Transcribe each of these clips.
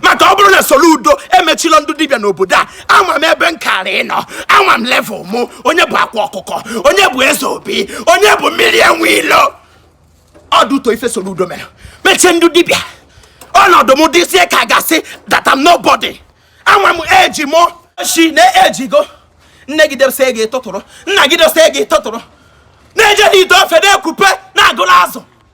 maka ọ bụrụ na Soludo emechilọ ndị dibịa n'obodo a ama m ebe m kara ịnọ ama m level mụ onye bụ akwa ọkụkọ onye bụ eze obi onye bụ mmiri enwe ilo ọ dị ụtọ ife Soludo mere mechie ndị dibịa ọnọdụ m dịzie ka a ga-asị that I'm nobody ama m eji mụ si na ejigo nne gị dose gị tụtụrụ nna gị dose gị tụtụrụ na-eje n'ite ofe na-ekupe na-agụrụ azụ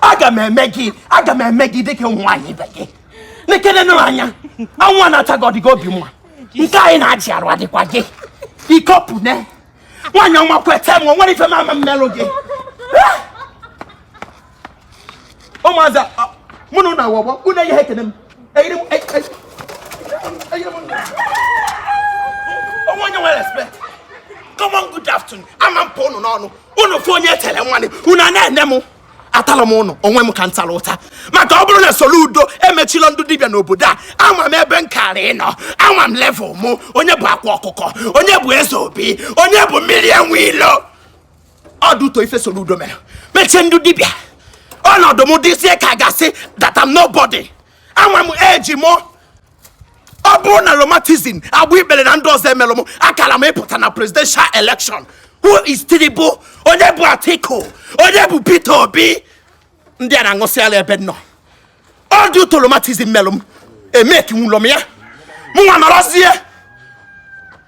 aga m eme gị aga m eme gị dịka ụmụ nwaanyị ibe gị nekene nụ anya anwụ a na-acha gị ọdịgo obi mma nke anyị na-achị arụ adịkwa gị ikopune nwaanyị ọma kweta m nwere ife mama mmelụ gị ụmụazị mụ na ụnụ awọgbọ ụnụ eyi ha ekene m eyiri m eyiri m onwe onye nwere respect come on good afternoon ama m pụ ụnụ n'ọnụ unu fụ onye tere nwanne unu a na-ene m atala m ụnụ onwe m ka m tara ụta maka ọ bụrụ na Soludo emechilọ ndị dibịa n'obodo a ama m ebe m kara ịnọ ama m level mụ onye bụ akwa ọkụkọ onye bụ eze obi onye bụ mmiri enwe ilo ọ dị ụtọ ife Soludo mere mechie ndị dibịa ọnọdụ m dịzie ka a ga-asị that I'm nobody ama m eji m ọ bụrụ na romatizm agba ikpere na ndị ọzọ emelọ m akara m ịpụta na presidential election who is Tinubu onye bụ Atiku onye bụ Peter Obi ndị a na-aṅụsịala ebe nọ ọ dị ụtọ romatizm melụ m emekinwulọ m ya mụnwa nọrọzie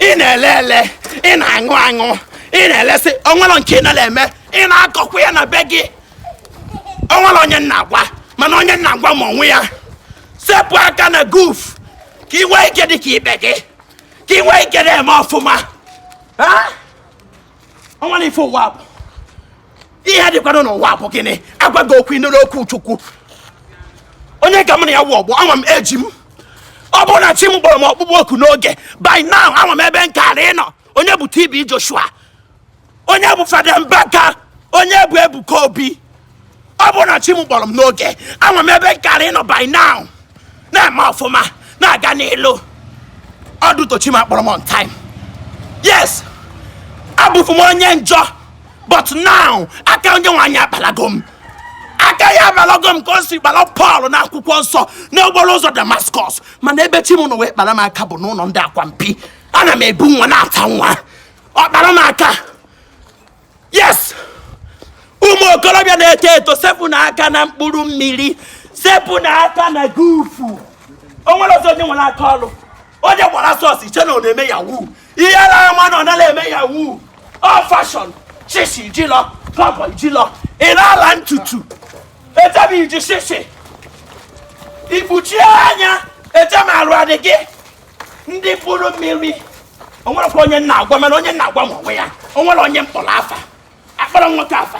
ị na-ele ele ị na-aṅụ aṅụ ị na-elesị o nwere nke ị nara eme ị na-akọkwa ya na be gị o nwere onye m na-agwa mana onye m na-agwa ma onwe ya sepụ aka na guf ka ị nwee ike dị ka ibe gị ka ị nwee ike na-eme ọfụma o nwere ife ụwa bụ ihe dịkwanụ n'ụwa bụ gịnị a gwa gị okwu ị nụrụ okwu Chukwu onye ka m na ya wụ ọgbọ ama m eji m ọ bụrụ na chi m kpọrọ m ọkpụkpọ oku n'oge by now ama m ebe m kara ịnọ onye bụ TB Joshua onye bụ Fada Mbaka onye bụ Ebuka Obi ọ bụrụ na chi m kpọrọ m n'oge ama m ebe m kara ịnọ by now na-eme ọfụma na-aga n'elu ọ dị ụtọ chi m akpọrọ m on time yes abụfu m onye njọ but now aka onye nwe anyị akpalago m aka ya akpalago m ka o si kpara Pọl na akwụkwọ nsọ n'okporo ụzọ Damaskọs mana ebe chi m nọ wee kpara m aka bụ n'ụlọ ndị akwampi ana m ebu nwa na-ata nwa ọ kpara m aka yes ụmụ okorobịa na-eto eto sepụnụ aka na mkpụrụ mmiri sepụnụ aka na gufu o nwere ọzọ onye nwere aka ọrụ onye gbara sọs i che na ọ na-eme yahoo ị yara ama na ọ nara eme yahoo ọ fashion shishi jilọ kọbọ jilọ ị na-ala ntutu etebi iji shishi ikpuchie anya etem arụ adị gị ndị mkpụrụ mmiri o nwerekwa onye m na-agwa mana onye m na-agwa ma onwe ya o nwere onye m kpọrọ afa akpọrọ nwoke afa